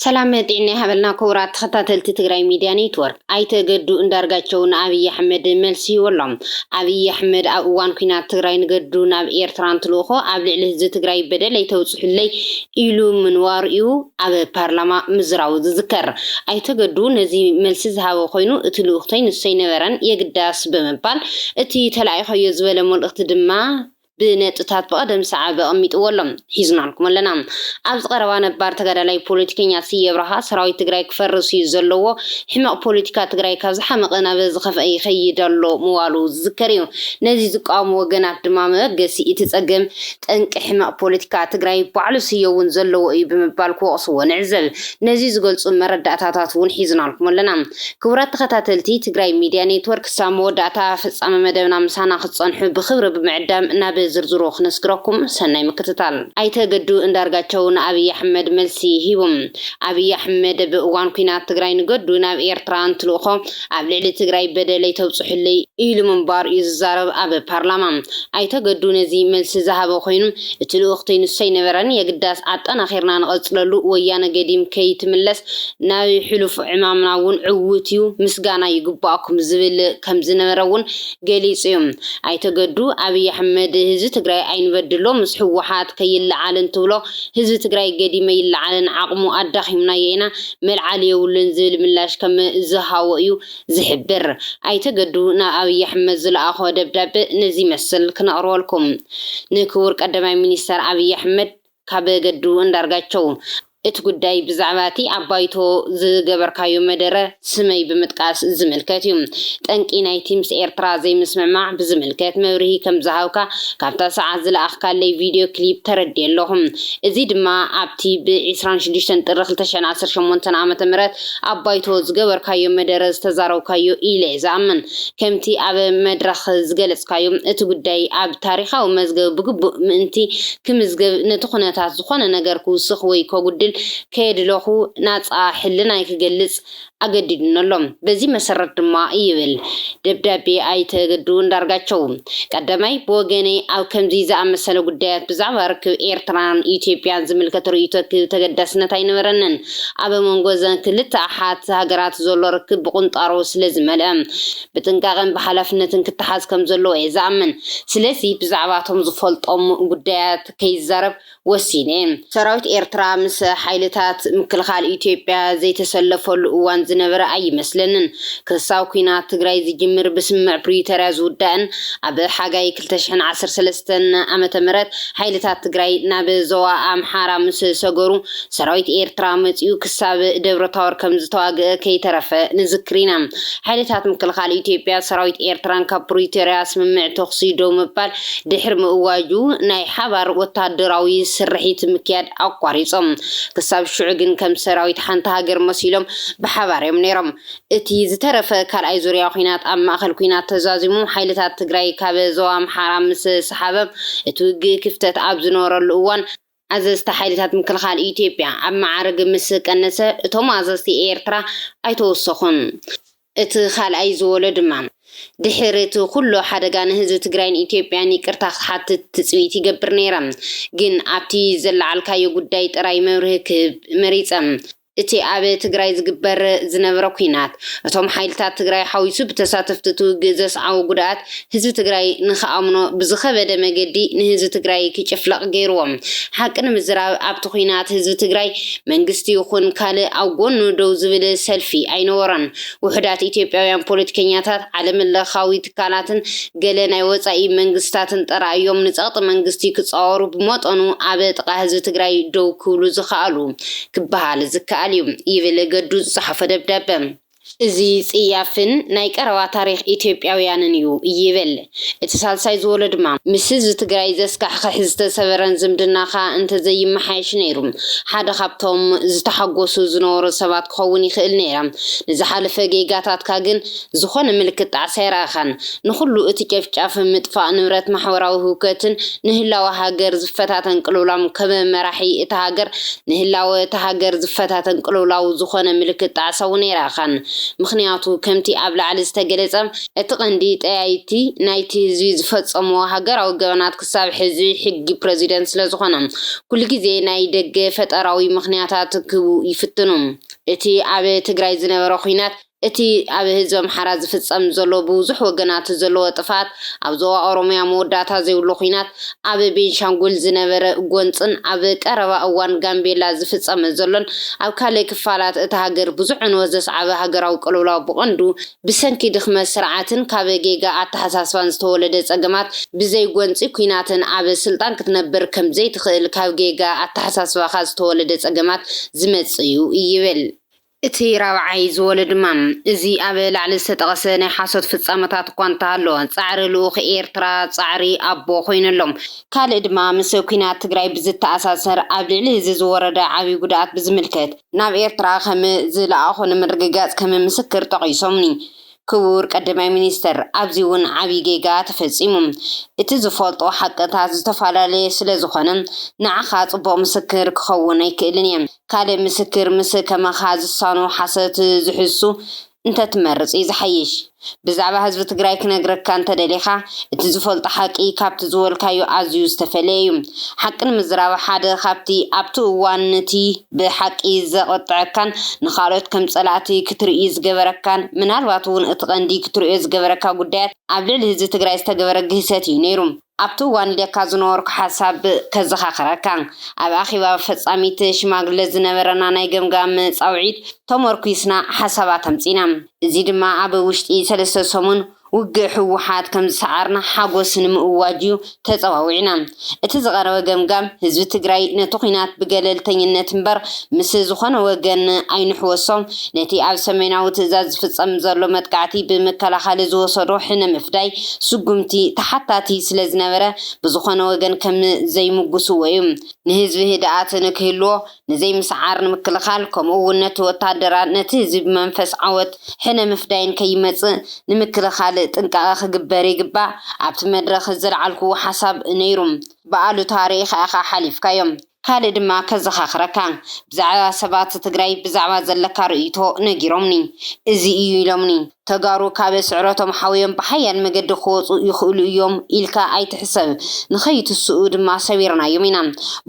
ሰላም ጢዕና ይሃበልና ኩቡራት ተኸታተልቲ ትግራይ ሚድያ ኔትወርክ። ኣይተ ገዱ እንዳርጋቸው ንኣብይ ኣሕመድ መልሲ ሂቡ ኣሎ። ኣብይ ኣሕመድ ኣብ እዋን ኩናት ትግራይ ንገዱ ናብ ኤርትራ እንትልእኾ ኣብ ልዕሊ ህዝቢ ትግራይ በደል ኣይተብፅሑለይ ኢሉ ምንባሩ ዩ ኣብ ፓርላማ ምዝራቡ ዝዝከር። ኣይተ ገዱ ነዚ መልሲ ዝሃበ ኮይኑ እቲ ልኡኽተይ ንሱ ኣይነበረን የግዳስ ብምባል እቲ ተላኢኸዮ ዝበለ መልእኽቲ ድማ ብነጥብታት ብቐደም ሰዓብ ኣቐሚጥዎ ኣሎ። ሒዝናልኩም ኣለና። ኣብዚ ቀረባ ነባር ተጋዳላይ ፖለቲከኛ ስየ ኣብርሃ ሰራዊት ትግራይ ክፈርስ እዩ ዘለዎ፣ ሕመቕ ፖለቲካ ትግራይ ካብ ዝሓመቐ ናብ ዝኸፍኣ ይኸይድ ኣሎ ምባሉ ዝዝከር እዩ። ነዚ ዝቃወሙ ወገናት ድማ መበገሲ እቲ ፀገም ጠንቂ ሕመቕ ፖለቲካ ትግራይ ባዕሉ ስየ እውን ዘለዎ እዩ ብምባል ክወቕስዎ ንዕዘብ። ነዚ ዝገልፁ መረዳእታታት እውን ሒዝናልኩም ኣለና። ክቡራት ተኸታተልቲ ትግራይ ሚድያ ኔትወርክ ክሳብ መወዳእታ ፍፃመ መደብና ምሳና ክትፀንሑ ብኽብሪ ብምዕዳም ናብ ዝርዝሩ ክነስግረኩም ሰናይ ምክትታል። ኣይተ ገዱ እንዳርጋቸው ንኣብይ ኣሕመድ መልሲ ሂቡ። ኣብይ ኣሕመድ ብ እዋን ኩናት ትግራይ ንገዱ ናብ ኤርትራ እንትልእኾ ኣብ ልዕሊ ትግራይ በደለይ ተብፅሑለይ ኢሉ ምንባሩ እዩ ዝዛረብ ኣብ ፓርላማ ኣይተ ገዱ ነዚ መልሲ ዝሃበ ኮይኑ እቲ ልኡኽተይ ንሱ ኣይነበረን የግዳስ ኣጠናኺርና ንቐፅለሉ ወያነ ገዲም ከይትምለስ ናይ ሕሉፍ ዕማምና እውን ዕዉት እዩ፣ ምስጋና ይግበኣኩም ዝብል ከም ዝነበረ እውን ገሊፁ እዩ። ኣይተ ገዱ፣ ኣብይ ኣሕመድ ህዝቢ ትግራይ ኣይንበድሎ፣ ምስ ህወሓት ከይለዓል እንትብሎ ህዝቢ ትግራይ ገዲመ ይለዓለን ዓቕሙ ኣዳኺምናዮ ኢና፣ መልዓሊ የብሉን ዝብል ምላሽ ከም ዝሃቦ እዩ ዝሕብር። ኣይተ ገዱ ናብ ኣብይ ኣሕመድ ዝለኣኾ ደብዳበ ነዚ ይመስል፣ ክነቕርበልኩም። ንክቡር ቀዳማይ ሚኒስተር ኣብይ ኣሕመድ። ካብ ገዱ ኣንዳርጋቸው እቲ ጉዳይ ብዛዕባ እቲ ኣብ ባይቶ ዝገበርካዮ መደረ ስመይ ብምጥቃስ ዝምልከት እዩ። ጠንቂ ናይቲ ምስ ኤርትራ ዘይምስምዕማዕ ብዝምልከት መብርሂ ከም ዝሃብካ ካብታ ሰዓት ዝለኣኽካለይ ቪድዮ ክሊፕ ተረዲኤ ኣለኹ። እዚ ድማ ኣብቲ ብ ዕስራን ሽዱሽተን ጥሪ ክልተ ሽሕን ዓሰርተ ሸሞንተ ዓመተ ምህረት ኣብ ባይቶ ዝገበርካዮ መደረ ዝተዛረብካዮ ኢለ ዝኣምን። ከምቲ ኣብ መድረኽ ዝገለጽካዮ፣ እቲ ጉዳይ ኣብ ታሪኻዊ መዝገብ ብግቡእ ምእንቲ ክምዝገብ ነቲ ኩነታት ዝኾነ ነገር ክውስኽ ወይ ከጉድል ከየድለኹ ናጻ ሕልናይ ክገልጽ ኣገዲዱኒ ኣሎ። በዚ መሰረት ድማ ይብል ደብዳቤ ኣይተ ገዱ ኣንዳርጋቸው፣ ቀዳማይ፣ ብወገነይ ኣብ ከምዚ ዝኣመሰለ ጉዳያት ብዛዕባ ርክብ ኤርትራን ኢትዮጵያን ዝምልከት ርእይቶ ክህብ ተገዳስነት ኣይነበረንን። ኣብ መንጎ እዘን ክልተ ኣሓት ሃገራት ዘሎ ርክብ ብቑንጣሮ ስለ ዝመልኣ፣ ብጥንቃቐን ብሓላፍነትን ክተሓዝ ከም ዘለዎ እየ ዝኣምን። ስለዚ ብዛዕባ እቶም ዝፈልጦም ጉዳያት ከይዛረብ ወሲነ እየ። ሰራዊት ኤርትራ ምስ ሓይልታት ምክልኻል ኢትዮጵያ ዘይተሰለፈሉ እዋን ዝነበረ ኣይመስለንን። ክሳብ ኲናት ትግራይ ዝጅምር ብስምምዕ ፕሪቶርያ ዝውዳእን ኣብ ሓጋይ ክልተ ሽሕን ዓሰርተ ሰለስተን ዓመተ ምህረት ሓይልታት ትግራይ ናብ ዞባ ኣምሓራ ምስ ሰገሩ ሰራዊት ኤርትራ መጺኡ ክሳብ ደብረታወር ከምዝተዋግእ ከይተረፈ ንዝክር ኢና። ሓይልታት ምክልኻል ኢትዮጵያ ሰራዊት ኤርትራን ካብ ፕሪቶርያ ስምምዕ ተኹሲ ደው ምባል ድሕሪ ምእዋጁ ናይ ሓባር ወተሃደራዊ ስርሒት ምክያድ ኣቋሪጾም። ክሳብ ሽዑ ግን ከም ሰራዊት ሓንቲ ሃገር መሲሎም ብሓባር እዮም ነይሮም። እቲ ዝተረፈ ካልኣይ ዙርያ ኲናት ኣብ ማእከል ኲናት ተዛዚሙ ሓይልታት ትግራይ ካብ ዞባ ኣምሓራ ምስ ሰሓበ እቲ ውግእ ክፍተት ኣብ ዝነበረሉ እዋን ኣዘዝቲ ሓይልታት ምክልኻል ኢትዮጵያ ኣብ መዓርግ ምስ ቀነሰ እቶም ኣዘዝቲ ኤርትራ ኣይተወሰኹን። እቲ ካልኣይ ዝበሎ ድማ ድሕሪ እቲ ኩሉ ሓደጋ ንህዝቢ ትግራይን ኢትዮጵያን ይቅርታ ክትሓትት ትጽቢት ይገብር ነይረ ግን ኣብቲ ዘለዓልካዮ ጉዳይ ጥራይ መብርሂ ክህብ መሪጸ። እቲ ኣብ ትግራይ ዝግበር ዝነበረ ኲናት፣ እቶም ሓይልታት ትግራይ ሓዊሱ ብተሳተፍቲ እቲ ውግእ ዘስዓቦ ጉድኣት ህዝቢ ትግራይ ንኽኣምኖ ብዝኸበደ መገዲ ንህዝቢ ትግራይ ክጭፍለቕ ገይሩዎ። ሓቂ ንምዝራብ ኣብቲ ኲናት ህዝቢ ትግራይ መንግስቲ ይኹን ካልእ ኣብ ጎኑ ደው ዝብል ሰልፊ ኣይነበሮን። ውሑዳት ኢትዮጵያውያን ፖለቲከኛታት ዓለምለኻዊ ትካላትን ገለ ናይ ወጻኢ መንግስታትን ጥራይ እዮም ንጸቕጢ መንግስቲ ክጻወሩ ብመጠኑ ኣብ ጥቓ ህዝቢ ትግራይ ደው ክብሉ ዝኸኣሉ ክበሃል ዝከኣል እዩ ይብል ገዱ ዝጸሓፎ ደብዳበ። እዚ ጽያፍን ናይ ቀረባ ታሪኽ ኢትዮጵያውያንን እዩ ይብል እቲ ሳልሳይ ዝወሎ ድማ። ምስ ህዝቢ ትግራይ ዘስካሕኽሕ ዝተሰበረን ዝምድናኻ እንተዘይመሓየሽ ነይሩ ሓደ ካብቶም ዝተሓጎሱ ዝነበሩ ሰባት ክኸውን ይኽእል ነይረ። ንዝሓለፈ ጌጋታትካ ግን ዝኾነ ምልክት ጣዕሳ ኣይረኣኻን። ንኹሉ እቲ ጨፍጫፍ፣ ምጥፋእ ንብረት፣ ማሕበራዊ ህውከትን ንህላወ ሃገር ዝፈታተን ቅልውላም ከም መራሒ እታ ሃገር ንህላወ እታ ሃገር ዝፈታተን ቅልውላው ዝኾነ ምልክት ጣዕሳ እውን ኣይረኣኻን። ምኽንያቱ ከምቲ ኣብ ላዕሊ ዝተገለጸ፣ እቲ ቀንዲ ጠያይቲ ናይቲ ህዝቢ ዝፈጸምዎ ሃገራዊ ገበናት ክሳብ ሕዚ ሕጊ ፕረዚደንት ስለ ዝኾነ ኩሉ ግዜ ናይ ደገ ፈጠራዊ ምኽንያታት ክህቡ ይፍትኑ። እቲ ኣብ ትግራይ ዝነበረ ኹናት እቲ ኣብ ህዝቢ ኣምሓራ ዝፍጸም ዘሎ ብብዙሕ ወገናት ዘለዎ ጥፍኣት፣ ኣብ ዞባ ኦሮምያ መወዳእታ ዘይብሉ ኲናት፣ ኣብ ቤንሻንጉል ዝነበረ ጎንጽን ኣብ ቀረባ እዋን ጋምቤላ ዝፍጸመ ዘሎን ኣብ ካልእ ክፋላት እታ ሃገር ብዙሕ ዕንወት ዘስዓበ ሃገራዊ ቅልውላው ብቐንዱ ብሰንኪ ድኽመት ስርዓትን ካብ ጌጋ ኣተሓሳስባን ዝተወለደ ጸገማት ብዘይ ጎንጺ ኲናትን ኣብ ስልጣን ክትነብር ከም ዘይትኽእል ካብ ጌጋ ኣተሓሳስባኻ ዝተወለደ ጸገማት ዝመጽእ'ዩ ይብል። እቲ ራብዓይ ዝወለ ድማ፣ እዚ ኣብ ላዕሊ ዝተጠቐሰ ናይ ሓሶት ፍጻመታት እኳ እንተሃሎ፣ ጻዕሪ ልኡኽ ኤርትራ ጻዕሪ ኣቦ ኮይኑ ኣሎ። ካልእ ድማ፣ ምስ ኲናት ትግራይ ብዝተኣሳሰር ኣብ ልዕሊ እዚ ዝወረደ ዓቢ ጉድኣት ብዝምልከት፣ ናብ ኤርትራ ከም ዝለኣኹ ንምርግጋጽ ከም ምስክር ጠቒሶምኒ። ክቡር ቀዳማይ ሚኒስተር፣ ኣብዚ እውን ዓቢ ጌጋ ተፈጺሙ። እቲ ዝፈልጦ ሓቅታት ዝተፈላለየ ስለ ዝኾነ፣ ንዓኻ ጽቡቕ ምስክር ክኸውን ኣይክእልን እየ። ካልእ ምስክር ምስ ከማኻ ዝሳኑ ሓሶት ዝሕሱ እንተትመርጽ እዩ ዝሓይሽ። ብዛዕባ ህዝቢ ትግራይ ክነግረካ እንተደሊኻ እቲ ዝፈልጦ ሓቂ ካብቲ ዝበልካዮ ኣዝዩ ዝተፈለየ እዩ። ሓቂ ንምዝራብ ሓደ ካብቲ ኣብቲ እዋን ንቲ ብሓቂ ዘቕጥዐካን ንኻልኦት ከም ጸላእቲ ክትርኢ ዝገበረካን ምናልባት እውን እቲ ቀንዲ ክትርእዮ ዝገበረካ ጉዳያት ኣብ ልዕሊ ህዝቢ ትግራይ ዝተገበረ ግህሰት እዩ ነይሩ። ኣብቲ እዋን ኢለካ ዝነበርኩ ሓሳብ ከዘኻኽረካ፣ ኣብ ኣኼባ ፈጻሚት ሽማግለ ዝነበረና ናይ ገምጋም ጻውዒት ተሞርኲስና ሓሳባት ኣምጺእና። እዚ ድማ ኣብ ውሽጢ ሰለስተ ሰሙን ውግእ ህወሓት ከም ዝሰዓርና ሓጎስ ንምእዋጅ'ዩ ተጸዋዊዕና። እቲ ዝቐረበ ገምጋም፣ ህዝቢ ትግራይ ነቲ ኲናት ብገለልተኝነት እምበር ምስ ዝኾነ ወገን ኣይንሕወሶ፣ ነቲ ኣብ ሰሜናዊ ትእዛዝ ዝፍጸም ዘሎ መጥቃዕቲ ብምከላኸሊ ዝወሰዶ ሕነ ምፍዳይ ስጉምቲ ተሓታቲ ስለ ዝነበረ ብዝኾነ ወገን ከም ዘይምጉስዎ እዩ። ንህዝቢ ህድኣት ንክህልዎ ንዘይምስዓር ንምክልኻል ከምኡ እውን ነቲ ወታደራ ነቲ ህዝቢ ብመንፈስ ዓወት ሕነ ምፍዳይን ከይመጽእ ንምክልኻል ጥንቃቐ ክግበር ይግባእ ኣብቲ መድረኽ ዘለዓልኩዎ ሓሳብ ነይሩ ብኣሉታ ርኢኻ ኢኻ ሓሊፍካዮ። ካልእ ድማ ከዘኻኽረካ ብዛዕባ ሰባት ትግራይ ብዛዕባ ዘለካ ርእይቶ ነጊሮምኒ እዚ እዩ ኢሎምኒ ተጋሩ ካብ ስዕረቶም ሓውዮም ብሓያል መገዲ ክወፁ ይኽእሉ እዮም ኢልካ ኣይትሕሰብ ንኸይትስኡ ድማ ሰቢርናዮም ኢና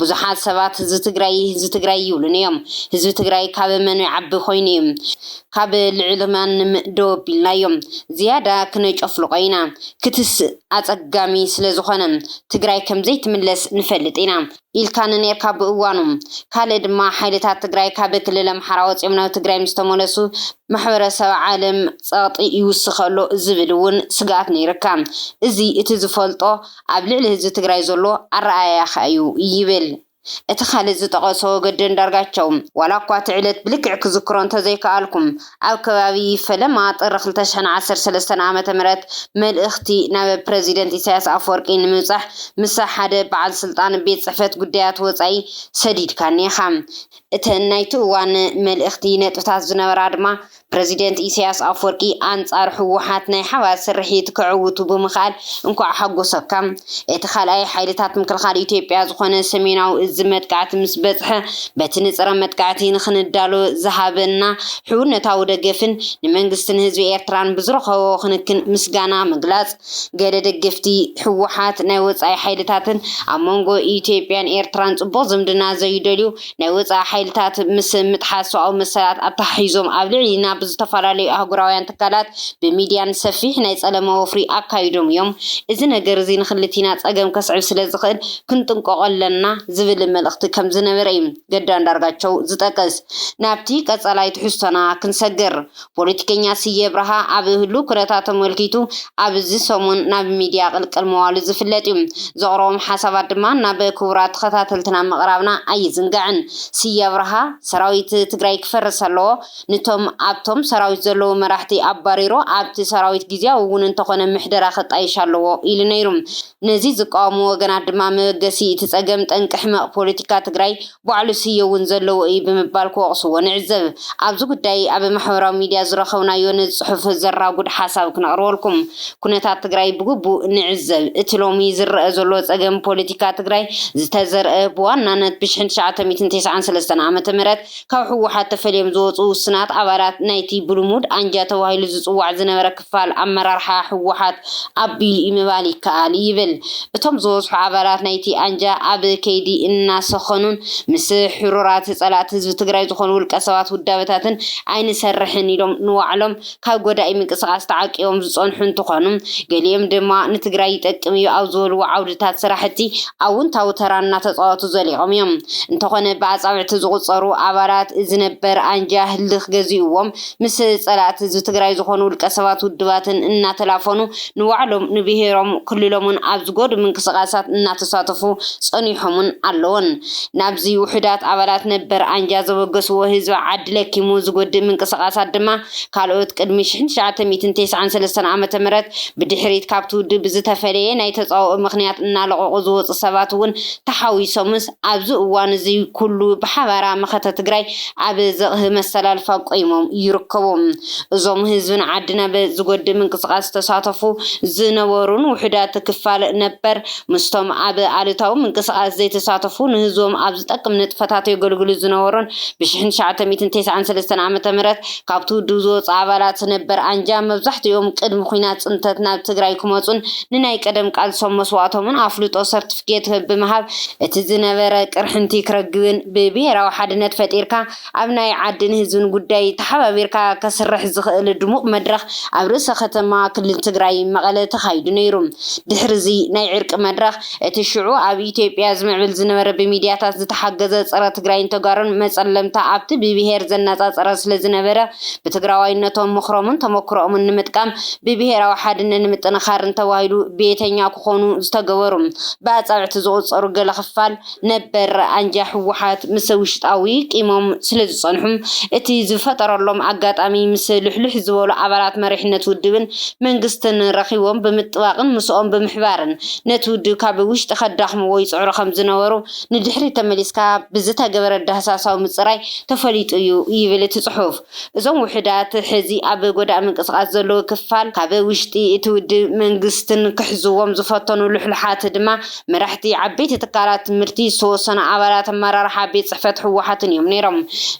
ብዙሓት ሰባት ዝትግራይ ዝትግራይ ይብሉኒ እዮም ህዝቢ ትግራይ ካብ መኑ ይዓቢ ኮይኑ እዩ ካብ ልዕሊ ማንም ደው ኣቢልናዮም ዝያዳ ክነጨፍልቆ ኢና ክትስእ ኣፀጋሚ ስለዝኾነ ትግራይ ከምዘይትምለስ ንፈልጥ ኢና ኢልካ ንኔርካ ብእዋኑ ካልእ ድማ ሓይልታት ትግራይ ካብ ክልል ኣምሓራ ወፂኦም ናብ ትግራይ ምስተመለሱ ማሕበረሰብ ዓለም ፀቅጢ ይውስኽ ኣሎ ዝብል እውን ስግኣት ነይርካ እዚ እቲ ዝፈልጦ ኣብ ልዕሊ ህዝቢ ትግራይ ዘሎ ኣረኣእያኻ እዩ ይብል እቲ ካልእ ዝጠቐሶ ወገዲ ኣንዳርጋቸው፣ ዋላኳ እቲ ዕለት ብልክዕ ክዝክሮ እንተዘይከኣልኩም፣ ኣብ ከባቢ ፈለማ ጥሪ ክልተ ሽሕን ዓሰርተ ሰለስተን ዓመተ ምህረት መልእኽቲ ናብ ፕረዚደንት ኢሳያስ ኣፍወርቂ ንምብጻሕ ምሰ ሓደ በዓል ስልጣን ቤት ጽሕፈት ጉዳያት ወጻኢ ሰዲድካኒ ኢኻ። እተን ናይቲ እዋን መልእኽቲ ነጥብታት ዝነበራ ድማ፣ ፕረዚደንት ኢሳያስ ኣፍወርቂ ኣንጻር ህወሓት ናይ ሓባር ስርሒት ከዕውቱ ብምኽኣል እንኳዕ ሓጎሰካ። እቲ ካልኣይ ሓይልታት ምክልኻል ኢትዮጵያ ዝኾነ ሰሜናዊ እዝ መጥቃዕቲ ምስ በጽሐ በቲ ንጽረ መጥቃዕቲ ንኽንዳሎ ዝሃበና ሕውነታዊ ደገፍን ንመንግስትን ህዝቢ ኤርትራን ብዝረኸቦ ክንክን ምስጋና ምግላጽ ገለ ደገፍቲ ህወሓት ናይ ወጻኢ ሓይልታትን ኣብ መንጎ ኢትዮጵያን ኤርትራን ጽቡቕ ዝምድና ዘይደልዩ ናይ ወጻኢ ሓይልታት ምስ ምጥሓስ ሰብኣዊ መሰላት ኣተሓሒዞም ኣብ ልዕሊ ናብ ዝተፈላለዩ ኣህጉራውያን ትካላት ብሚድያን ሰፊሕ ናይ ጸለመ ወፍሪ ኣካይዶም እዮም። እዚ ነገር እዚ ንክልቲና ጸገም ከስዕብ ስለዝኽእል ክንጥንቀቆ ኣለና ዝብል መልእኽቲ ከምዝነበረ እዩ ገዱ ኣንዳርጋቸው ዝጠቅስ። ናብቲ ቀጻላይ ትሕዝቶና ክንሰግር። ፖለቲከኛ ስየ ኣብርሃ ኣብ ህሉው ኩነታት ተመልኪቱ ኣብዚ ሰሙን ናብ ሚድያ ቅልቅል ምባሉ ዝፍለጥ እዩ። ዘቕረቦም ሓሳባት ድማ ናብ ክቡራት ተኸታተልትና ምቕራብና ኣይዝንጋዕን። ስየ ኣብርሃ ሰራዊት ትግራይ ክፈርስ ኣለዎ፣ ንቶም ኣብቶም ሰራዊት ዘለዉ መራሕቲ ኣባሪሩ ኣብቲ ሰራዊት ግዝያዊ እውን እንተኾነ ምሕደራ ክጣየሽ ኣለዎ ኢሉ ነይሩ። ነዚ ዝቃወሙ ወገናት ድማ መበገሲ እቲ ፀገም ጠንቂ ሕመቕ ፖለቲካ ትግራይ ባዕሉ ስየ እውን ዘለዎ እዩ ብምባል ክወቕስዎ ንዕዘብ። ኣብዚ ጉዳይ ኣብ ማሕበራዊ ሚድያ ዝረኸብናዮ ነዚ ፅሑፍ ዘራጉድ ሓሳብ ክነቕርበልኩም። ኩነታት ትግራይ ብግቡእ ንዕዘብ። እቲ ሎሚ ዝረኣ ዘሎ ፀገም ፖለቲካ ትግራይ ዝተዘርኣ ብዋናነት ብ ሽሕን ትሽዓተ ሚእትን ተስዓን ሰለስተን ዓመተ ምህረት ካብ ህወሓት ተፈልዮም ዝወፁ ውስናት ኣባላት ናይቲ ብልሙድ ኣንጃ ተባሂሉ ዝፅዋዕ ዝነበረ ክፋል ኣመራርሓ ህወሓት ኣቢሉ'ዩ ምባል ይከኣል ይብል። እቶም ዝበዝሑ ኣባላት ናይቲ ኣንጃ ኣብ ከይዲ እናሰኸኑን ምስ ሕሩራት ፀላእቲ ህዝቢ ትግራይ ዝኾኑ ውልቀሰባት ውዳበታትን ኣይንሰርሕን ኢሎም ንባዕሎም ካብ ጎዳኢ ምንቅስቓስ ተዓቂቦም ዝፀንሑ እንትኾኑ ገሊኦም ድማ ንትግራይ ይጠቅም እዩ ኣብ ዝበልዎ ዓውድታት ስራሕቲ ኣውንታዊ ተራ እናተፃወቱ ዘሊቖም እዮም። እንተኾነ ብኣፃብዕቲ ዝቑፀሩ ኣባላት እዚ ነበር ኣንጃ ህልኽ ገዚኡዎም ምስ ፀላእቲ ህዝቢ ትግራይ ዝኾኑ ውልቀ ሰባት ውድባትን እናተላፈኑ ንባዕሎም ንብሄሮም ክልሎምን ኣብ ዝጎድእ ምንቅስቃሳት እናተሳተፉ ፀኒሖምን ኣለውን። ናብዚ ውሑዳት ኣባላት ነበር ኣንጃ ዘበገስዎ ህዝቢ ዓዲ ለኪሙ ዝጎድእ ምንቅስቃሳት ድማ ካልኦት ቅድሚ ሽሕን ትሽዓተ ሚእትን ተስዓን ሰለስተን ዓመተ ምህረት ብድሕሪት ካብቲ ውድብ ብዝተፈለየ ናይ ተፃብኦ ምኽንያት እናለቐቑ ዝወፁ ሰባት እውን ተሓዊሶምስ ኣብዚ እዋን እዚ ኩሉ ብሓባራ መኸተ ትግራይ ኣብ ዘቕህ መሰላልፋ ቆይሞም ይርከቡ። እዞም ህዝቢ ንዓዲ ናብ ዝጎድእ ምንቅስቓስ ዝተሳተፉ ዝነበሩን ውሑዳት ክፋል ነበር ምስቶም ኣብ ኣሉታዊ ምንቅስቓስ ዘይተሳተፉ ንህዝቦም ኣብ ዝጠቅም ንጥፈታት የገልግሉ ዝነበሩን ብሽሕን ትሽዓተ ሚእትን ተስዓን ሰለስተን ዓመተ ምህረት ካብቲ ውድብ ዝወፁ ኣባላት ነበር ኣንጃ መብዛሕቲኦም ቅድሚ ኹናት ፅንተት ናብ ትግራይ ክመፁን ንናይ ቀደም ቃልሶም መስዋእቶምን ኣፍልጦ ሰርትፍኬት ብምሃብ እቲ ዝነበረ ቅርሕንቲ ክረግብን ብብሄራዊ ሓድነት ፈጢርካ ኣብ ናይ ዓድን ህዝብን ጉዳይ ተሓባቢርካ ከስርሕ ዝኽእል ድሙቕ መድረኽ ኣብ ርእሰ ከተማ ክልል ትግራይ መቐለ ተኻይዱ ነይሩ። ድሕሪ'ዚ ናይ ዕርቂ መድረኽ እቲ ሽዑ ኣብ ኢትዮጵያ ዝምዕብል ዝነበረ ብሚድያታት ዝተሓገዘ ፀረ ትግራይን ተጋሩን መፀለምታ ኣብቲ ብብሄር ዘነፃፀረ ስለዝነበረ ብትግራዋይነቶም ምኽሮምን ተሞክሮኦምን ንምጥቃም ብብሄራዊ ሓድነት ንምጥንኻርን ተባሂሉ ቤተኛ ክኾኑ ዝተገበሩ ብኣፃብዕቲ ዝቑፀሩ ገለ ክፋል ነበር ኣንጃ ህወሓት ምስ ውሽጣዊ ቂሞም ስለዝፀንሑ እቲ ዝፈጠረሎም ኣጋጣሚ ምስ ልሕልሕ ዝበሉ ኣባላት መሪሕነት ውድብን መንግስትን ረኺቦም ብምጥባቕን ምስኦም ብምሕባርን ነቲ ውድብ ካብ ውሽጢ ከዳኽምዎ ይፅዕሩ ከምዝነበሩ ንድሕሪት ተመሊስካ ብዝተገበረ ዳህሳሳዊ ምጽራይ ተፈሊጡ እዩ ይብል እቲ ጽሑፍ። እዞም ውሑዳት ሕዚ ኣብ ጎዳኢ ምንቅስቓስ ዘለዉ ክፋል ካብ ውሽጢ እቲ ውድብ መንግስትን ክሕዝዎም ዝፈተኑ ሉሕሉሓት ድማ መራሕቲ ዓበይቲ ትካላት ትምህርቲ ዝተወሰኑ ኣባላት ኣመራርሓ ቤት ጽሕፈት ህወሓትን እዮም ነይሮም።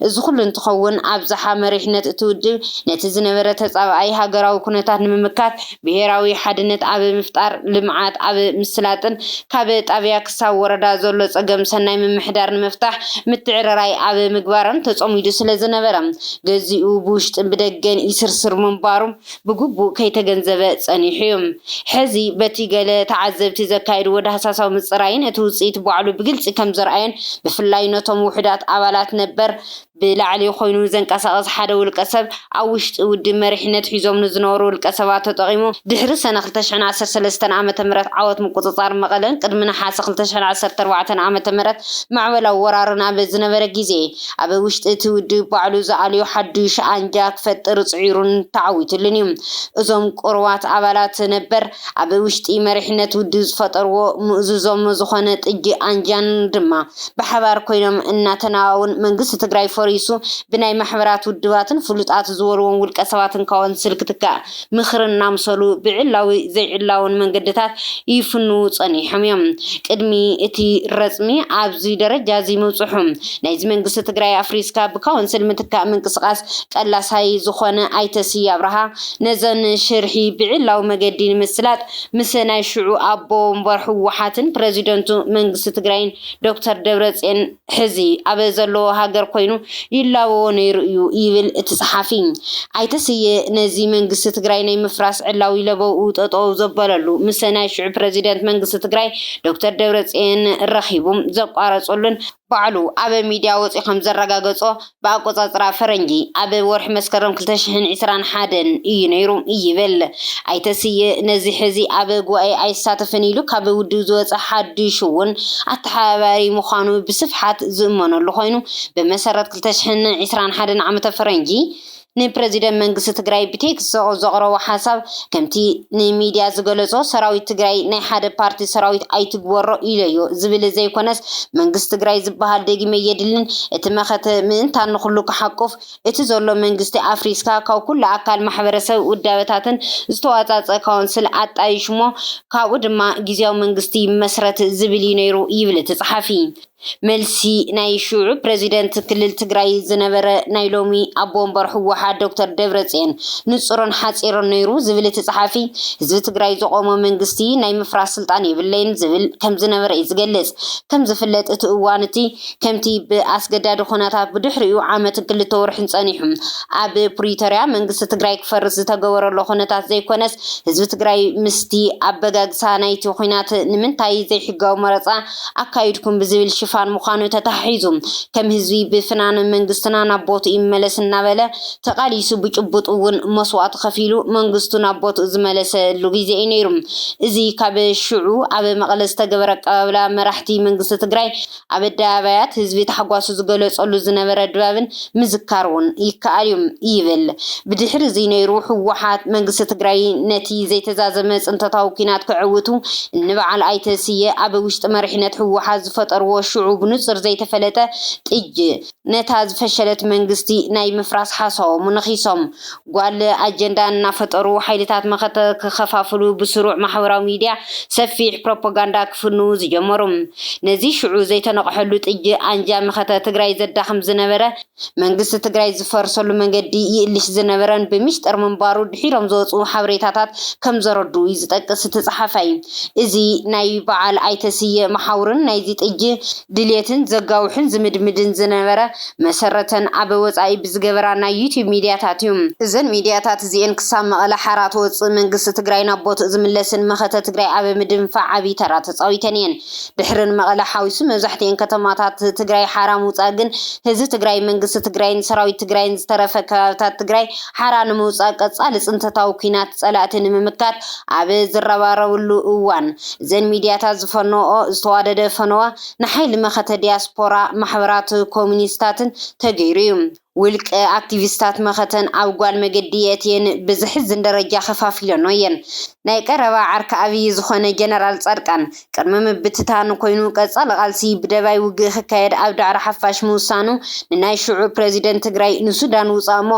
እዚ ኩሉ እንትኸውን ኣብዝሓ መሪሕነት እቲ ውድብ ነቲ ዝነበረ ተጻባኣይ ሃገራዊ ኩነታት ንምምካት ብሄራዊ ሓድነት ኣብ ምፍጣር፣ ልምዓት ኣብ ምስላጥን ካብ ጣብያ ክሳብ ወረዳ ዘሎ ፀገም ሰናይ ምምሕዳር ንምፍታሕ ምትዕርራይ ኣብ ምግባርን ተፀሚዱ ስለዝነበረ ገዚኡ ብውሽጥን ብደገን ይስርስር ምንባሩ ብግቡእ ከይተገንዘበ ፀኒሑ ዩ። ሕዚ በቲ ገለ ተዓዘብቲ ዘካየድዎ ዳህሳሳዊ ምፅራይን እቲ ውፅኢት ባዕሉ ብግልፂ ከምዘርኣዮን ብፍላይ ነቶም ውሑዳት ኣባላት ነበር ብላዕሊ ኮይኑ ዘንቀሳቕስ ሓደ ውልቀሰብ ኣብ ውሽጢ ውድብ መሪሕነት ሒዞም ንዝነበሩ ውልቀሰባት ተጠቒሙ ድሕሪ ሰነ ክልተ ሽሕን ዓሰርተ ሰለስተን ዓመተ ምህረት ዓወት ምቁጽጻር መቐለን ቅድሚ ነሓሰ ክልተ ሽሕን ዓሰርተ ኣርባዕተን ዓመተ ምህረት ማዕበላዊ ወራርን ኣብ ዝነበረ ግዜ ኣብ ውሽጢ እቲ ውድብ ባዕሉ ዝኣልዮ ሓዱሽ ኣንጃ ክፈጥር ጽዒሩን ተዓዊትሉን እዩ። እዞም ቁሩባት ኣባላት ነበር ኣብ ውሽጢ መሪሕነት ውድብ ዝፈጠርዎ ምእዙዞም ዝኾነ ጥጅእ ኣንጃን ድማ ብሓባር ኮይኖም እናተናዋውን መንግስቲ ትግራይ ፈሪሱ ብናይ ማሕበራት ውድባትን ፍሉጣት ዝበልዎም ውልቀ ሰባትን ካወንስል ክትካእ ምኽሪ እናምሰሉ ብዕላዊ ዘይዕላውን መንገድታት ይፍንዉ ፀኒሖም እዮም ቅድሚ እቲ ረፅሚ ኣብዚ ደረጃ እዚ ምብፅሑ ናይዚ መንግስቲ ትግራይ ኣፍሪስካ ብካወንስል ምትካእ ምንቅስቓስ ቀላሳይ ዝኾነ ኣይተ ስየ ኣብርሃ ነዘን ሽርሒ ብዒላዊ መገዲ ንምስላጥ ምስ ናይ ሽዑ ኣቦ ወንበር ህወሓትን ፕረዚደንቱ መንግስቲ ትግራይን ዶክተር ደብረፅዮን ሕዚ ኣብ ዘለዎ ሃገር ኮይኑ ይላበዎ ነይሩ እዩ ይብል እቲ ፀሓፊ። ኣይተ ስየ ነዚ መንግስቲ ትግራይ ናይ ምፍራስ ዕላዊ ለበውኡ ጠጠው ዘበለሉ ምስ ናይ ሽዑ ፕረዚደንት መንግስቲ ትግራይ ዶክተር ደብረፅዮን ረኺቡ ዘቋረፀሉን ባዕሉ ኣብ ሚድያ ወፂኡ ከምዘረጋገፆ ብኣቆፃፅራ ፈረንጂ ኣብ ወርሒ መስከረም ክልተ ሽሕን ዕስራን ሓደን እዩ ነይሩ ይብል። ኣይተ ስየ ነዚ ሕዚ ኣብ ጉባኤ ኣይሳተፍን ኢሉ ካብ ውድብ ዝወፀ ሓዱሽ እውን ኣተሓባባሪ ምዃኑ ብስፍሓት ዝእመነሉ ኮይኑ ብመሰረት ክልተ ሽሕን ዕስራን ሓደን ዓመተ ፈረንጂ ንፕረዚደንት መንግስቲ ትግራይ ብቴክስት ዘቕረቦ ሓሳብ ከምቲ ንሚድያ ዝገለፆ ሰራዊት ትግራይ ናይ ሓደ ፓርቲ ሰራዊት ኣይትግበሮ ኢሎዮ ዝብል ዘይኮነስ መንግስቲ ትግራይ ዝበሃል ደጊመ የድልን እቲ መኸተ ምእንታን ንኹሉ ክሓቁፍ እቲ ዘሎ መንግስቲ ኣፍሪስካ ካብ ኩሉ ኣካል ማሕበረሰብ ውዳበታትን ዝተዋፃፀ ካውንስል ኣጣይሽሞ ካብኡ ድማ ግዝያዊ መንግስቲ ይመስረት ዝብል እዩ ነይሩ ይብል እቲ ፀሓፊ። መልሲ ናይ ሽዑ ፕረዚደንት ክልል ትግራይ ዝነበረ ናይ ሎሚ ኣቦ ወንበር ህወሓት ዶክተር ደብረፅዮን ንፁርን ሓፂርን ነይሩ ዝብል እቲ ፀሓፊ ህዝቢ ትግራይ ዘቖሞ መንግስቲ ናይ ምፍራስ ስልጣን የብለይን ዝብል ከምዝነበረ እዩ ዝገልፅ። ከምዝፍለጥ እቲ እዋን እቲ ከምቲ ብኣስገዳዲ ኹነታት ብድሕሪኡ ዓመትን ክልተ ወርሕን ፀኒሑ ኣብ ፕሪቶርያ መንግስቲ ትግራይ ክፈርስ ዝተገበረሉ ኹነታት ዘይኮነስ ህዝቢ ትግራይ ምስቲ ኣበጋግሳ ናይቲ ኹናት ንምንታይ ዘይሕጋዊ መረፃ ኣካይድኩም ብዝብል ሽፋን ምዃኑ ተተሓሒዙ ከም ህዝቢ ብፍናን መንግስትና ናብ ቦትኡ ይመለስ እናበለ ተቓሊሱ ብጭቡጥ እውን መስዋእቲ ከፊሉ መንግስቱ ናብ ቦትኡ ዝመለሰሉ ግዜ እዩ ነይሩ። እዚ ካብ ሽዑ ኣብ መቐለ ዝተገበረ ኣቀባብላ መራሕቲ መንግስቲ ትግራይ ኣብ ኣደባባያት ህዝቢ ታሕጓሱ ዝገለፀሉ ዝነበረ ድባብን ምዝካር ውን ይከኣል ዩ ይብል። ብድሕሪ እዙይ ነይሩ ህወሓት መንግስቲ ትግራይ ነቲ ዘይተዛዘመ ፅንተታዊ ኲናት ከዐውቱ እንበዓል ኣይተ ስየ ኣብ ውሽጢ መሪሕነት ህወሓት ዝፈጠርዎ ሽዑ ብንፁር ዘይተፈለጠ ጥጅ ነታ ዝፈሸለት መንግስቲ ናይ ምፍራስ ሓሳቦም ነኺሶም ጓል ኣጀንዳ እናፈጠሩ ሓይልታት መኸተ ክኸፋፍሉ ብስሩዕ ማሕበራዊ ሚድያ ሰፊሕ ፕሮፖጋንዳ ክፍንዉ ዝጀመሩ። ነዚ ሽዑ ዘይተነቕሐሉ ጥጅ ኣንጃ መኸተ ትግራይ ዘዳኽም ዝነበረ መንግስቲ ትግራይ ዝፈርሰሉ መንገዲ ይእልሽ ዝነበረን ብሚስጥር ምንባሩ ድሒሮም ዝወፅኡ ሓበሬታታት ከምዘረድኡ እዩ ዝጠቅስ እቲ ፀሓፋይ። እዚ ናይ በዓል ኣይተ ስየ መሓውርን ናይዚ ጥጅ ድልየትን ዘጋውሕን ዝምድምድን ዝነበረ መሰረተን ኣብ ወጻኢ ብዝገበራ ናይ ዩቱብ ሚድያታት እዩ። እዘን ሚድያታት እዚኤን ክሳብ መቐለ ሓራ ትወጽእ መንግስቲ ትግራይ ናብ ቦትኡ ዝምለስን መኸተ ትግራይ ኣብ ምድንፋዕ ዓብይ ተራ ተጻዊተን እየን። ድሕሪ ንመቐለ ሓዊሱ መብዛሕቲኤን ከተማታት ትግራይ ሓራ ምውጻእ ግን ህዝቢ ትግራይ፣ መንግስቲ ትግራይን ሰራዊት ትግራይን ዝተረፈ ከባብታት ትግራይ ሓራ ንምውጻእ ቀጻሊ ጽንተታዊ ኩናት ጸላእቲ ንምምካት ኣብ ዝረባረብሉ እዋን፣ እዘን ሚድያታት ዝፈነወኦ ዝተዋደደ ፈነወ ንሓይሊ መኸተ ዲያስፖራ ማሕበራት ኮሚኒስታትን ተገይሩ እዩ። ውልቀ ኣክቲቪስታት መኸተን ኣብ ጓል መገዲ የእትየን ብዘሕዝን ደረጃ ከፋፊለንኦ እየን። ናይ ቀረባ ዓርኪ ኣብይ ዝኾነ ጀነራል ፃድቃን ቅድሚ ምብትታን ኮይኑ ቀፃሊ ቃልሲ ብደባይ ውግእ ክካየድ ኣብ ዳዕሮ ሓፋሽ ምውሳኑ ንናይ ሽዑ ፕረዚደንት ትግራይ ንሱዳን ውፃእሞ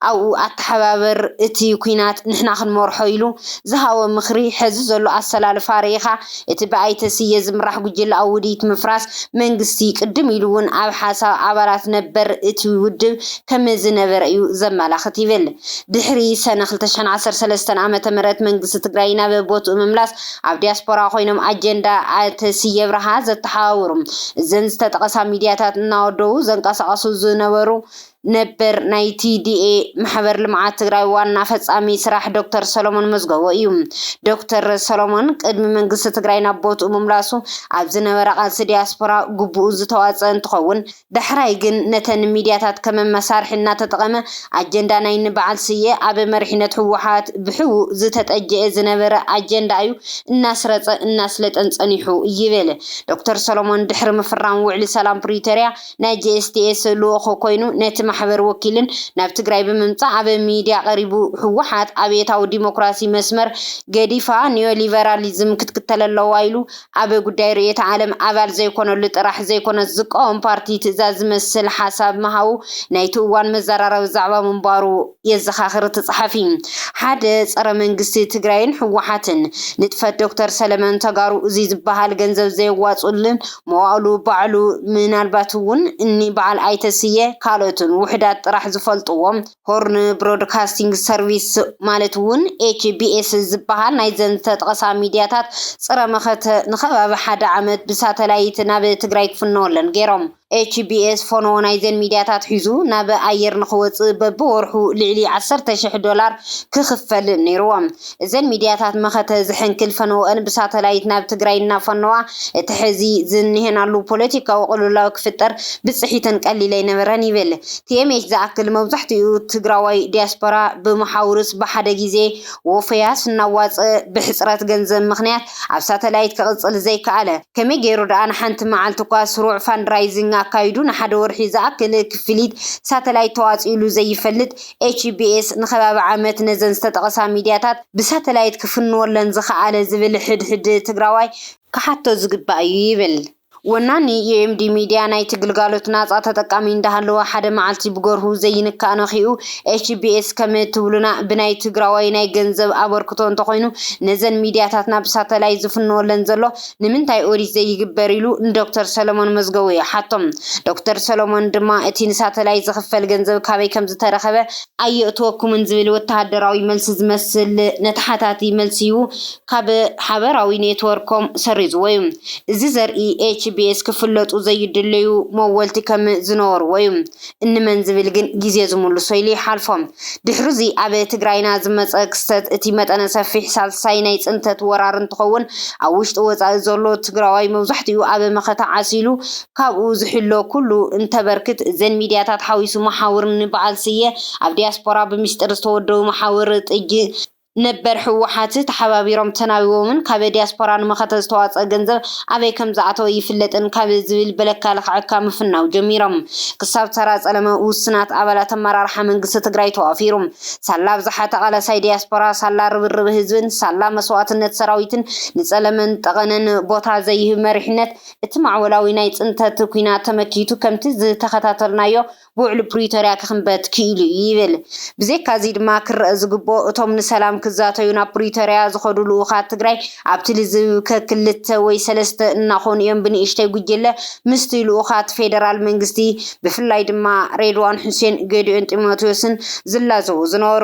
ኣብኡ ኣተሓባበር እቲ ኩናት ንሕና ክንመርሖ ኢሉ ዝሃቦ ምኽሪ ሕዚ ዘሎ ኣሰላልፋ ርኢኻ እቲ ብኣይተ ስየ ዝምራሕ ጉጅለኣዊ ውዲት ምፍራስ መንግስቲ ቅድም ኢሉ እውን ኣብ ሓሳብ ኣባላት ነበር እቲ ውድብ ከመዝነበረ እዩ ዘመላኽት ይብል ድሕሪ ሰነ ክልተ ሽሕን ዓሰርተ ሰለስተን ዓመተ ምህረት መንግስቲ ትግራይ ናብ ቦትኡ ምምላስ ኣብ ዲያስፖራ ኮይኖም ኣጀንዳ ኣተ ስየ ኣብርሃ ዘተሓባብሩ እዘን ዝተጠቐሳ ሚዲያታት እናወደቡ ዘንቀሳቐሱ ዝነበሩ ነበር ናይ ቲዲኤ ማሕበር ልምዓት ትግራይ ዋና ፈፃሚ ስራሕ ዶክተር ሰሎሞን መዝገቦ እዩ። ዶክተር ሰሎሞን ቅድሚ መንግስቲ ትግራይ ናብ ቦትኡ ምምላሱ ኣብ ዝነበረ ቃልሲ ዲያስፖራ ግቡኡ ዝተዋፀ እንትኸውን ዳሕራይ ግን ነተን ሚድያታት ከም መሳርሒ እናተጠቐመ ኣጀንዳ ናይ ንበዓል ስየ ኣብ መሪሕነት ህወሓት ብሕቡእ ዝተጠጀኤ ዝነበረ ኣጀንዳ እዩ እናስረፀ እናስለጠን ፀኒሑ ይብል ዶክተር ሰሎሞን ድሕሪ ምፍራም ውዕሊ ሰላም ፕሪቶሪያ ናይ GSTS ልኡኽ ኮይኑ ነቲ ማሕበር ወኪልን ናብ ትግራይ ብምምፃእ ኣብ ሚድያ ቀሪቡ ህወሓት ኣብዮታዊ ዲሞክራሲ መስመር ገዲፋ ኒዮሊበራሊዝም ክትክተል ኣለዋ ኢሉ ኣብ ጉዳይ ርእዮተ ዓለም ኣባል ዘይኮነሉ ጥራሕ ዘይኮነስ ዝቃወም ፓርቲ ትእዛዝ ዝመስል ሓሳብ ምሃቡ ናይቲ እዋን መዘራረቢ ዛዕባ ምንባሩ የዘኻኽር እቲ ፀሓፊ። ሓደ ፀረ መንግስቲ ትግራይን ህወሓትን ንጥፈት ዶክተር ሰለመን ተጋሩ እዙይ ዝባሃል ገንዘብ ዘየዋፅኡልን መዋእሉ ባዕሉ ምናልባት እውን እኒ በዓል ኣይተ ስየ ካልኦትን ውሑዳት ጥራሕ ዝፈልጥዎ ሆርን ብሮድካስቲንግ ሰርቪስ ማለት እውን HBS ዝበሃል ናይዘን ዝተጠቐሳ ሚድያታት ፅረ መኸተ ንኸባቢ ሓደ ዓመት ብሳተላይት ናብ ትግራይ ክፍነወለን ገይሮም። HBS ፎኖ ናይዘን ሚድያታት ሒዙ ናብ ኣየር ንኽወፅእ በቢወርሑ ልዕሊ ዓሰርተ ሽሕ ዶላር ክኽፈል ነይሩዎ። እዘን ሚድያታት መኸተ ዝሕንክል ፈነወኣን ብሳተላይት ናብ ትግራይ እናፈነዋ እቲ ሕዚ ዝኒሀናሉ ፖለቲካዊ ቅልውላው ክፍጠር ብፅሒተን ቀሊል ኣይነበረን ይብል tmh። ዝኣክል መብዛሕቲኡ ትግራዋይ ዲያስፖራ ብመሓውርስ ብሓደ ጊዜ ወፈያስ እናዋፀእ ብሕፅረት ገንዘብ ምኽንያት ኣብ ሳተላይት ክቕፅል ዘይከኣለ ከመይ ገይሩ ድኣ ንሓንቲ መዓልቲ እኳ ስሩዕ ፋንድራይዚንግ ኣካይዱ ንሓደ ወርሒ ዝኣክል ክፍሊት ሳተላይት ተዋፂኡሉ ዘይፈልጥ ኤችቢኤስ ንከባቢ ዓመት ነዘን ዝተጠቕሳ ሚድያታት ብሳተላይት ክፍንወለን ዝኸኣለ ዝብል ሕድ ሕድ ትግራዋይ ክሓቶ ዝግባእ እዩ ይብል። ወናኒ ዩኤምዲ ሚድያ ናይቲ ግልጋሎት ናፃ ተጠቃሚ እንዳሃለወ ሓደ መዓልቲ ብገርሁ ዘይንካእ ነኺኡ ኤችቢኤስ ከም ትብሉና ብናይ ትግራዋይ ናይ ገንዘብ ኣበርክቶ እንተኾይኑ ነዘን ሚድያታትና ብሳተላይት ዝፍንወለን ዘሎ ንምንታይ ኦዲት ዘይግበር ኢሉ ንዶክተር ሰለሞን መዝገቡ ይሓቶም። ዶክተር ሰለሞን ድማ እቲ ንሳተላይት ዝኽፈል ገንዘብ ካበይ ከምዝተረኸበ ኣየእትወኩምን ዝብል ወተሃደራዊ መልሲ ዝመስል ነተሓታቲ መልሲ'ዩ ካብ ሓበራዊ ኔትወርኮም ሰሪዙዎ'ዩ። እዚ ዘርኢ ኤችቢኤስ ክፍለጡ ዘይድለዩ መወልቲ ከም ዝነበሩዎ'ዩ እንመን ዝብል ግን ግዜ ዝሙልሶ ኢሉ ይሓልፎ። ድሕሩዚ ኣብ ትግራይና ዝመጸ ክስተት እቲ መጠነ ሰፊሕ ሳልሳይ ናይ ጽንተት ወራር እንትኸውን ኣብ ውሽጢ ወጻኢ ዘሎ ትግራዋይ መብዛሕቲኡ ኣብ መኸተ ዓሲሉ ካብኡ ዝሕሎ ኩሉ እንተበርክት እዘን ሚድያታት ሓዊሱ መሓውር ንበዓል ስየ ኣብ ዲያስፖራ ብሚስጥር ዝተወደቡ መሓውር ጥጅ ነበር ህወሓት ተሓባቢሮም ተናቢቦምን ካብ ዲያስፖራ ንመኸተ ዝተዋፅኣ ገንዘብ ኣበይ ከምዝኣተወ ኣይፍለጥን ካብ ዝብል በለካ ልኽዐካ ምፍናው ጀሚሮም ክሳብ ተራ ፀለመ ውሱናት ኣባላት ኣመራርሓ መንግስቲ ትግራይ ተዋፊሩ ሳላ ኣብዝሓ ተቓላሳይ ዲያስፖራ ሳላ ርብርብ ህዝብን ሳላ መስዋእትነት ሰራዊትን ንፀለመን ጠቐነን ቦታ ዘይህብ መሪሕነት እቲ ማዕበላዊ ናይ ፅንተት ኲናት ተመኪቱ ከምቲ ዝተኸታተልናዮ ብውዕሊ ፕሪቶርያ ክኽንበት ክኢሉ እዩ ይብል። ብዘይካ እዚ ድማ ክረእ ዝግበኦ እቶም ንሰላም ክዛተዩ ናብ ፕሪቶርያ ዝኸዱ ልኡኻት ትግራይ ኣብቲ ልዝብ ከክልተ ወይ ሰለስተ እናኾኑ እዮም ብንእሽተይ ጉጅለ ምስቲ ልኡኻት ፌደራል መንግስቲ ብፍላይ ድማ ሬድዋን ሑሴን፣ ገዲዮን ጢሞቴዎስን ዝላዘቡ ዝነበሩ።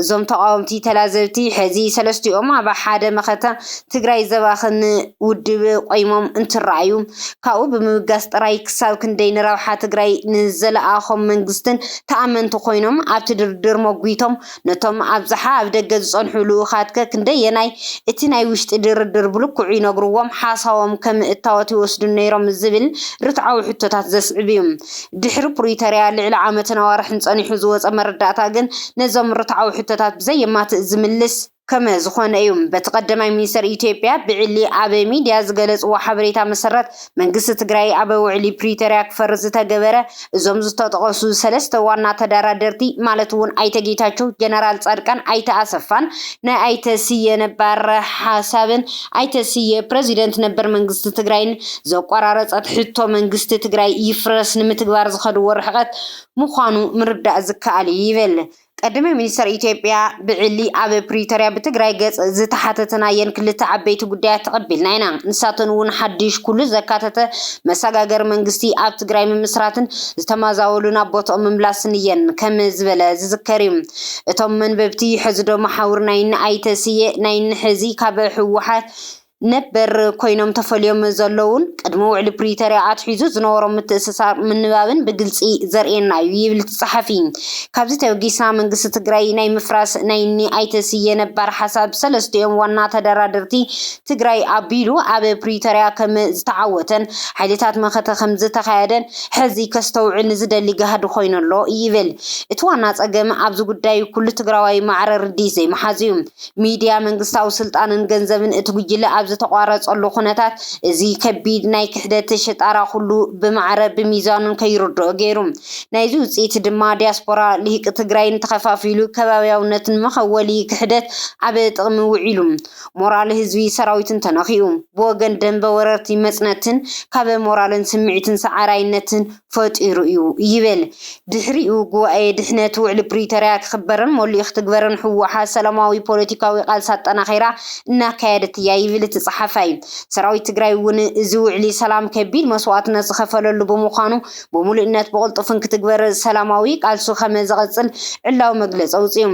እዞም ተቃወምቲ ተላዘብቲ ሕዚ ሰለስቲኦም ኣብ ሓደ መኸተ ትግራይ ዘባኽን ውድብ ቆይሞም እንትረኣዩ ካብኡ ብምብጋስ ጥራይ ክሳብ ክንደይ ንረብሓ ትግራይ ንዘለኣኾም መንግስትን ተኣመንቲ ኮይኖም ኣብቲ ድርድር ሞጒቶም ነቶም ኣብዝሓ ኣብ ደገ ዝፀንሑ ልኡኻትከ ክንደየናይ እቲ ናይ ውሽጢ ድርድር ብልክዑ ይነግርዎም ሓሳቦም ከም እታወት ይወስዱ ነይሮም ዝብል ርትዓዊ ሕቶታት ዘስዕብ እዩ። ድሕሪ ፕሪቶርያ ልዕሊ ዓመትን ኣዋርሕን ፀኒሑ ዝወፀ መረዳእታ ግን ነዞም ርትዓዊ ሕቶታት ብዘየማትእ ዝምልስ ከመ ዝኾነ እዩ። በቲ ቀደማይ ሚኒስተር ኢትዮጵያ ብዕሊ ኣብ ሚድያ ዝገለፅዎ ሓበሬታ መሰረት መንግስቲ ትግራይ ኣብ ውዕሊ ፕሪቶርያ ክፈርስ ዝተገበረ እዞም ዝተጠቐሱ ሰለስተ ዋና ተደራደርቲ ማለት እውን ኣይተ ጌታቸው፣ ጀነራል ፃድቃን፣ ኣይተ ኣሰፋን ናይ ኣይተ ስየ ነባር ሓሳብን ኣይተ ስየ፣ ፕረዚደንት ነበር መንግስቲ ትግራይን ዘቋራረፀት ሕቶ መንግስቲ ትግራይ ይፍረስ ንምትግባር ዝኸድዎ ርሕቐት ምዃኑ ምርዳእ ዝከኣል እዩ ይብል። ቀዳማይ ሚኒስተር ኢትዮጵያ ብዕሊ ኣብ ፕሪቶርያ ብትግራይ ገፅ ዝተሓተትናየን ክልተ ዓበይቲ ጉዳያት ተቐቢልና ኢና። ንሳተን እውን ሓዱሽ ኩሉ ዘካተተ መሰጋገሪ መንግስቲ ኣብ ትግራይ ምምስራትን ዝተመዛበሉ ናብ ቦትኦም ምምላስን እየን ከም ዝበለ ዝዝከር እዩ። እቶም መንበብቲ ሕዚዶ መሓውር ናይ እኒ ኣይተ ስየ ናይ እኒ ሕዚ ካብ ህወሓት ነበር ኮይኖም ተፈልዮም ዘለዉን ቅድሚ ውዕሊ ፕሪቶርያ ኣትሒዙ ዝነበሮም ምትእስሳር ምንባብን ብግልፂ ዘርእየና እዩ ይብል እቲ ፀሓፊ። ካብዚ ተበጊስና መንግስቲ ትግራይ ናይ ምፍራስ ናይ እኒ ኣይተ ስየ ነባር ሓሳብ ሰለስቲኦም ዋና ተደራደርቲ ትግራይ ኣቢሉ ኣብ ፕሪቶርያ ከም ዝተዓወተን ሓይልታት መኸተ ከም ዝተኻየደን ሕዚ ከስተውዕል ንዝደሊ ጋህዲ ኮይኑ ኣሎ ይብል። እቲ ዋና ፀገም ኣብዚ ጉዳይ ኩሉ ትግራዋይ ማዕረ ርድኢት ዘይምሓዙ ዩ። ሚድያ፣ መንግስታዊ ስልጣንን ገንዘብን እቲ ጉጅለ ኣብ ዝተቋረፀሉ ኩነታት እዚ ከቢድ ናይ ክሕደት ሽጣራ ኩሉ ብማዕረ ብሚዛኑን ከይርድኦ ገይሩ። ናይዚ ውፅኢት ድማ ዲያስፖራ ልሂቂ ትግራይን ተኸፋፊሉ ከባብያውነትን መኸወሊ ክሕደት ኣብ ጥቕሚ ውዒሉ። ሞራል ህዝቢ ሰራዊትን ተነኺኡ። ብወገን ደምበ ወረርቲ መጽነትን ካበ ሞራልን ስምዒትን ሰዓራይነትን ፈጢሩ እዩ ይብል። ድሕሪኡ ጉባኤ ድሕነት ውዕሊ ፕሪቶርያ ክኽበርን ሞሊኡ ክትግበርን ህወሓት ሰላማዊ ፖለቲካዊ ቃልሲ ኣጠናኺራ እናካየደት እያ ይብል እቲ ጸሓፋይ። ሰራዊት ትግራይ እውን እዚ ውዕሊ ሰላም ከቢድ መስዋእትነት ዝኸፈለሉ ብምዃኑ ብምሉእነት ብቕልጡፍን ክትግበር ሰላማዊ ቃልሱ ከመ ዘቐጽል ዕላዊ መግለጺ ኣውጺኡ።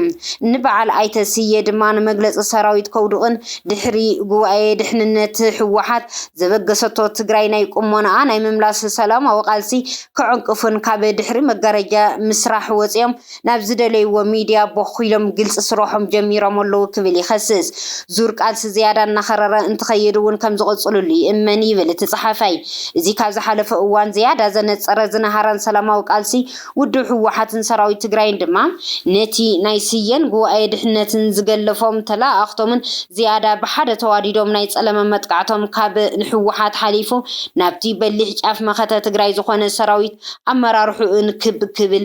ን በዓል ኣይተ ስየ ድማ ንመግለጺ ሰራዊት ከውድቕን ድሕሪ ጉባኤ ድሕንነት ህወሓት ዘበገሰቶ ትግራይ ናይ ቁሞናኣ ናይ ምምላስ ሰላማዊ ቃልሲ ከዕንቅፉን ካብ ድሕሪ መጋረጃ ምስራሕ ወጺኦም ናብ ዝደለይዎ ሚድያ ቦኽ ኢሎም ግልፂ ስረሖም ጀሚሮም ኣለው ክብል ይኸስስ። ዙር ቃልሲ ዝያዳ እናኸረረ እንትኸይድ እውን ከምዝቕፅልሉ ይእመን ይብል እቲ ፀሓፋይ። እዚ ካብ ዝሓለፈ እዋን ዝያዳ ዘነፀረ ዝነሃረን ሰላማዊ ቃልሲ ውድብ ህወሓትን ሰራዊት ትግራይን ድማ ነቲ ናይ ስየን ጉባኤ ድሕነትን ዝገለፎም ተለኣኣኽቶምን ዝያዳ ብሓደ ተዋዲዶም ናይ ፀለመ መጥቃዕቶም ካብ ንህወሓት ሓሊፉ ናብቲ በሊሕ ጫፍ መኸተ ትግራይ ዝኾነ ሰራዊት ኣመራርሕኡን ክብ ክብል